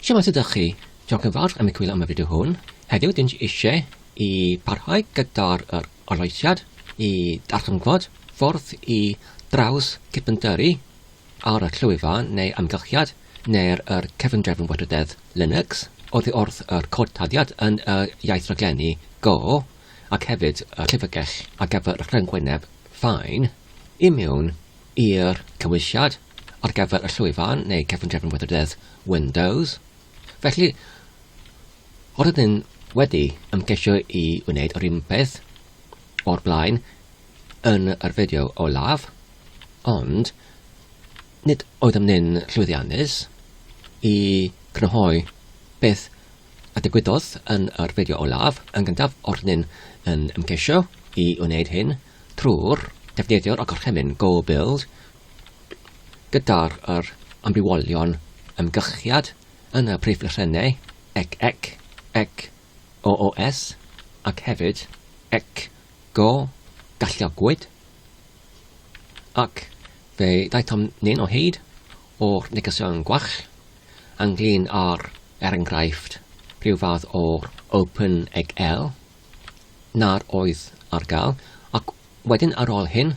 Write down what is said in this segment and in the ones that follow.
Shwmae sut ydych chi? Diolch yn fawr am y cwylio am y fideo hwn. Heddiw dyn ni eisiau i parhau gyda'r yr arloesiad i ddarchymgfod ffordd i draws cypyndyrru ar y llwyfan neu amgylchiad neu'r yr cefndrefn weithrededd Linux oddi wrth yr cod taddiad yn y iaith raglenni Go ac hefyd y llyfrgell ar gyfer y rhyngwyneb Fine i mewn i'r cymwysiad ar gyfer y llwyfan neu cefndrefn weithrededd Windows. Felly, os ydyn wedi ymgeisio i wneud yr un peth o'r blaen yn yr fideo olaf, ond nid oeddem ni'n llwyddiannus i grynhoi beth a digwyddodd yn yr fideo olaf, yn gyntaf o'r ni'n yn ymgeisio i wneud hyn trwy'r defnyddio'r gorchymyn Go Build Gyda'r yr amrywiolion ymgychiad yn y preifysrennau ec, ec, ec, o, os, ac hefyd, ec, go, galluogwyd, ac fe ddaethom nin o hyd o'r negesion gwell ynglŷn â'r, er enghraifft, rhyw fath o open ec el, nad oedd ar gael, ac wedyn ar ol hyn,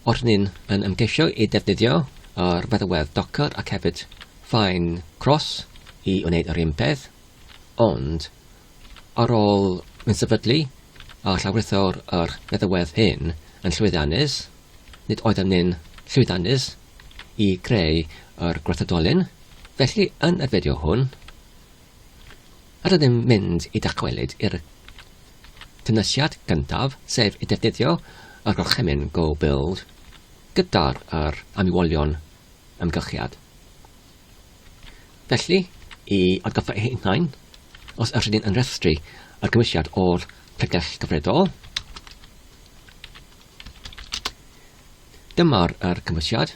Oeddwn ni yn ymgeisio i ddefnyddio yr feddalwedd Docker ac hefyd Fine Cross i wneud yr un peth, ond ar ôl fy nsefydlu a llawrytho'r yr feddalwedd hyn yn llwyddiannus, nid oeddem ni'n llwyddiannus i greu yr gwrthdolyn, felly yn y fideo hwn, rydym mynd i dychwelyd i'r cynwysiad gyntaf, sef i ddefnyddio y gorchymyn Go Build gyda'r yr amwywolion amgylchiad. Felly, i atgoffa eich hunain, os ydych chi'n rhestru y cynwysiad o'r pregell gyfredol, dyma'r yr cynwysiad.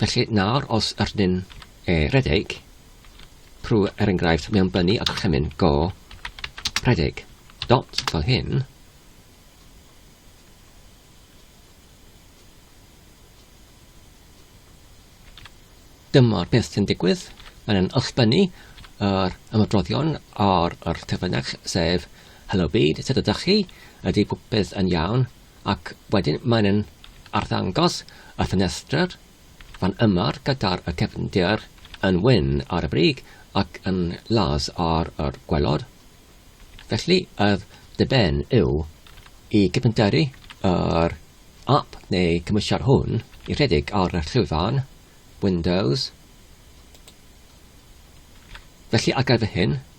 Felly nawr os ydyn e rhedeg, pru er enghraifft mewn byny a gorchymyn, go rhedeg, dot fel hyn, dyma'r peth sy'n digwydd, mae'n yn ysbynu yr ymadroddion ar yr terfynach, sef Hello Byd, sut ydych chi? Ydy popeth yn iawn? ac wedyn mae'n yn arddangos y ffenestr fan yma gyda'r y cefndir yn wyn ar y brig ac yn las ar yr gwelod. Felly yr dyben yw i gyfnderu yr app neu cymwysiad hwn i rhedeg ar y llwyfan Windows. Felly ar gyfer hyn,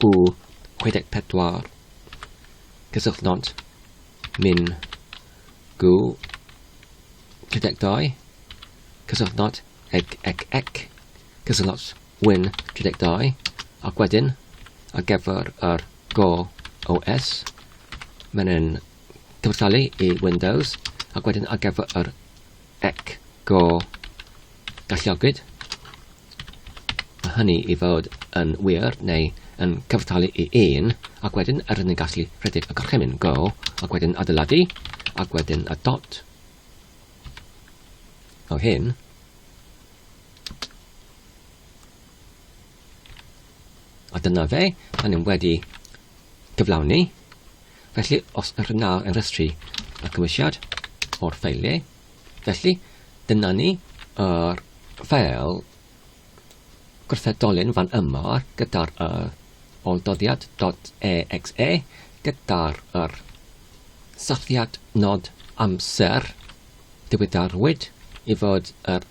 Bu 64 cysylltnod min gu 32 cysylltnod ec ec ec cysylltnod win 32 ac wedyn ar gyfer yr go OS mae'n yn cyfrtalu i Windows ac wedyn ar gyfer yr ec go galliogwyd a hynny i fod yn wir neu yn cyfartalu i un, ac wedyn er yn gallu rhedeg y gorchymyn go, ac wedyn adeiladu, ac wedyn y dot o hyn, a dyna fe, a ni'n wedi gyflawni. Felly, os yr yna yn rhestru y cymwysiad o'r ffeiliau, Felly, dyna ni, yr fel gwrthedolyn fan yma gyda'r y olldoddiad dot exe gyda'r yr safiad nod amser diwyddarwyd i fod yr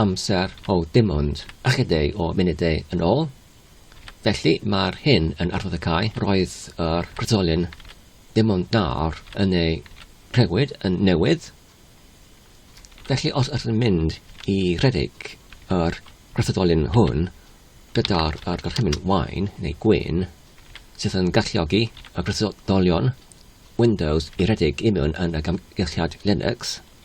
amser o dim ond ychydig o munudau yn ôl. Felly, mae'r hyn yn arddod y cae, roedd yr prydolyn ddim ond nawr yn ei rhewyd yn newydd. Felly, os ydyn mynd i rhedeg yr arddodolyn hwn gyda'r gorchymyn wain neu gwyn, sydd yn galluogi y prydolion Windows i redeg i mewn yn y gamgylchiad Linux,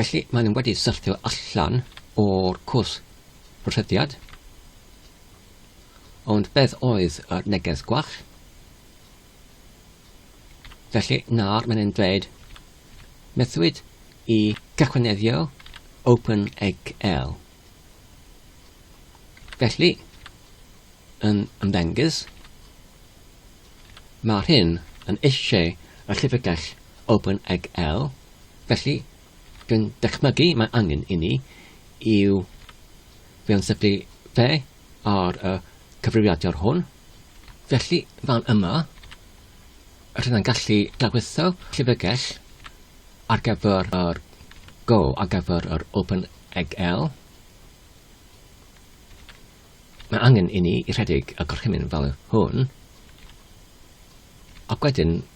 Felly, maen nhw wedi syrthio allan o'r cwrs rhyddiad. Ond beth oedd y neges gwach? Felly, nawr mae'n ein dweud methwyd i gychwyneddio OpenEggL. Felly, yn ymddengys, mae'r hyn yn eisiau y llyfrgell OpenEggL, felly dwi'n dychmygu mae angen i ni i'w fewn sefydlu fe ar y cyfrifiadur hwn. Felly, fan yma, rydyn yn gallu dagwetho llyfrgell ar gyfer yr Go, ar gyfer yr OpenEggl. Mae angen i ni i rhedeg y gorchymyn fel hwn, ac wedyn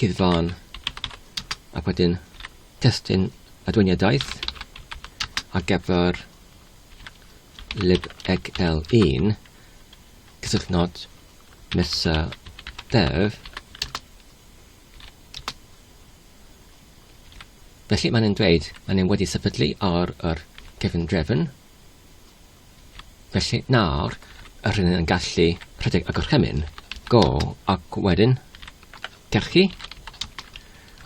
Cyfan, ac wedyn testun adweiniadaeth ar gyfer libxl1 cysylltnod mesa dev. Felly mae'n yn dweud, mae'n yn wedi sefydlu ar yr cefn drefn. Felly nawr yr hyn yn gallu rhedeg y gorchymyn. Go ac wedyn cachu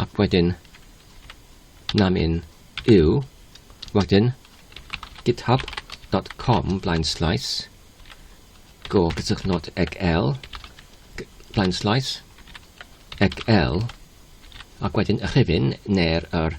ac wedyn namin yw wedyn github.com blaen slaes go gysylltnod ag L blaen slaes ag L ac wedyn y rhifyn neu'r er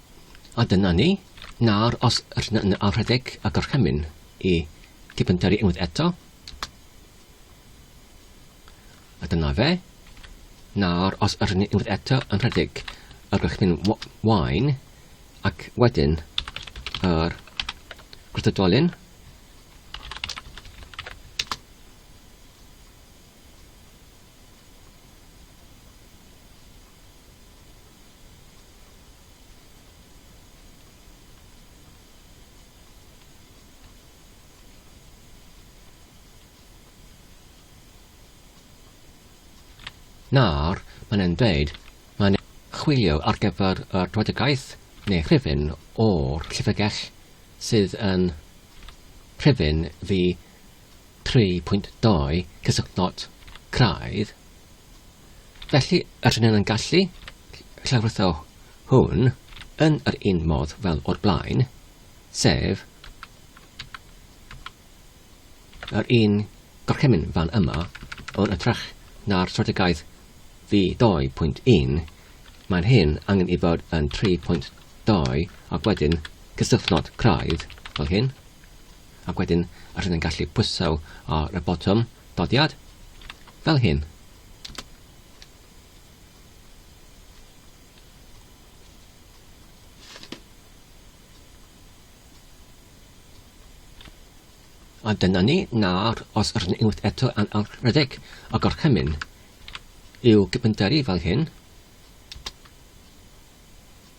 A dyna ni, nawr os rn a rhedeg y gorchymyn i Tipynteri unwaith eto. A dyna fe. Nawr os rn ni unwaith eto yn rhedeg y gorchymyn wain ac wedyn yr gwrthdolyn Nawr, mae'n e'n dweud, mae'n chwilio ar gyfer y rhwydagaeth neu rhifyn o'r llyfrgell sydd yn rhifyn fi 3.2 Cysylltnod craidd Felly, rydyn ni'n gallu llawrytho hwn yn yr un modd fel o'r blaen, sef yr un gorchymyn fan yma, ond yn trach na'r strategaeth fi 2.1, mae'n hyn angen i fod yn 3.2 ac wedyn cysylltnod craidd fel hyn. ac wedyn yr hyn yn gallu pwyso ar y botwm dodiad, fel hyn. A dyna ni, nawr os yr hyn unwaith eto yn alredeg a gorchymyn i'w gyfynteri fel hyn,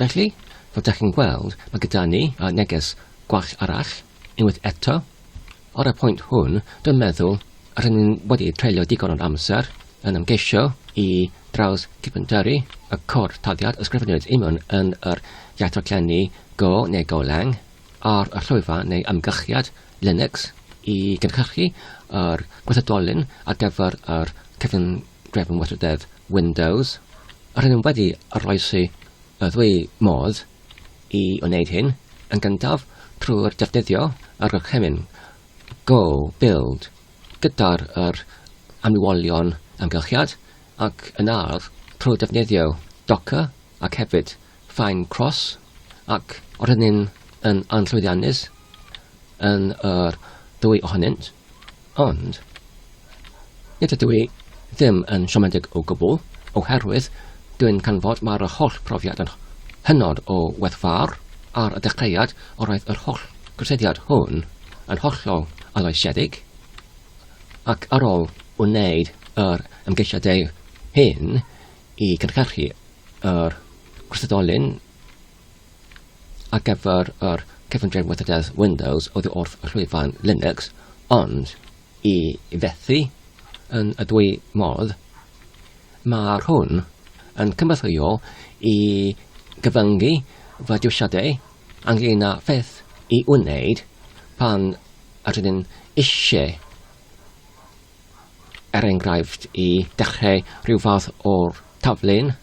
Felly, fel dach chi'n gweld, mae gyda ni neges gwall arall, unwaith eto. Ar y pwynt hwn, dwi'n meddwl rydyn ni wedi treulio digon o'n amser yn ymgeisio i draws cipynteri y cor taliad ysgrifennwyd imwn yn yr iatroclenni go neu go lang ar y llwyfan neu ymgychiad Linux i gynhyrchu yr gwerthodolyn ar gyfer yr cyfyngiadau Grefhwn Weithrededd Windows, rydyn nhw wedi oroesi y ddwy modd i wneud hyn, yn gyntaf trwy'r defnyddio y gorchymyn Go Build gyda'r yr amrywiolion amgylchiad ac yn ardd trwy defnyddio Docker ac hefyd Fine Cross ac rydyn yn anllwyddiannus yn yr ddwy ohonynt. Ond, nid ydw i ddim yn siomedig o gwbl, oherwydd dwi'n canfod mae'r holl brofiad yn hynod o werthfawr, ar y dechreuad yr oedd yr holl gyrsyddiad hwn yn hollol aloesedig, ac ar ôl wneud yr ymgeisiadau hyn i gynhyrchu yr gwrthdolyn, ar gyfer yr cyfundrefn weithredoedd Windows oddi wrth llwyfan Linux, ond i fethu yn y dwy modd, mae'r hwn yn cynorthwyo i gyfyngu fy dewisiadau ynglŷn â pheth i wneud pan rydyn eisiau er enghraifft, i dechrau rhyw fath o taflen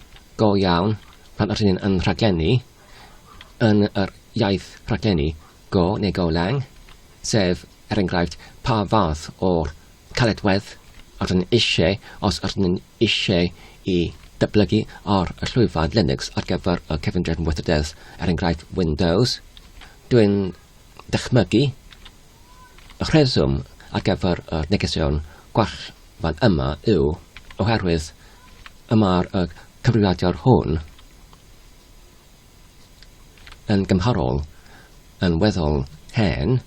go iawn pan ydyn ni yn rhaglennu yn yr iaith rhaglennu go neu go lang, sef, er enghraifft, pa fath o caledwedd ydyn ni eisiau os ydyn ni eisiau i dyblygu ar y llwyfan Linux ar gyfer y cyfundrefn weithrededd, er enghraifft Windows. Dwi'n dychmygu rheswm ar gyfer y negeseuon gwell fan yma yw oherwydd y mae'r cyfrifiadur hwn yn gymharol yn weddol hen,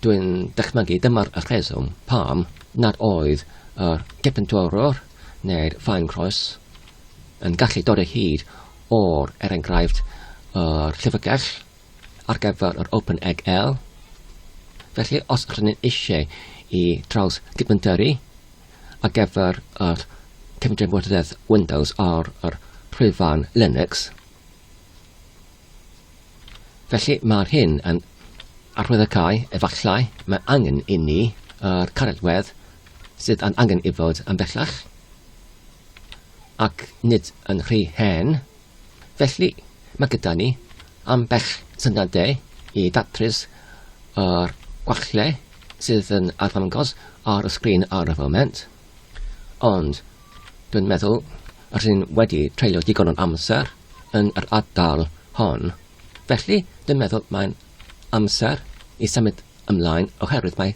dwi'n dychmygu dyma'r rheswm pam nad oedd y Gepentwrwr neu'r Ffaencroes yn gallu dod o hyd o'r er enghraifft yr Llyfrgell ar gyfer yr Open Egg L. Felly, os rydyn ni'n eisiau i draws dibyndyru ar gyfer yr cefndiamwrddedd Windows ar yr rhwyfan Linux, felly mae'r hyn yn arwyddocae efallai mae angen i ni yr caredwedd sydd yn angen i fod yn bellach ac nid yn rhy hen Felly, mae gyda ni ambell syniadau i ddatrys yr gwallau sydd yn arddangos ar y sgrin ar y foment, ond dwi'n meddwl yr hyn wedi treulio digon o'n amser yn yr ardal hon. Felly, dwi'n meddwl mae'n amser i symud ymlaen oherwydd mae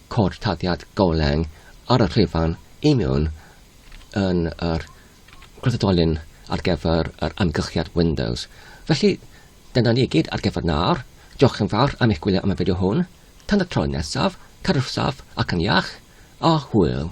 cod tarddiad goleung ar y llwyfan i mewn yn yr gwrthdolyn ar gyfer yr amgylchiad Windows. Felly, dyna ni i gyd ar gyfer nawr. Diolch yn fawr am eich gwylio am y fideo hwn. Tan y tro nesaf, cadwch saff ac yn iach, a hwyl!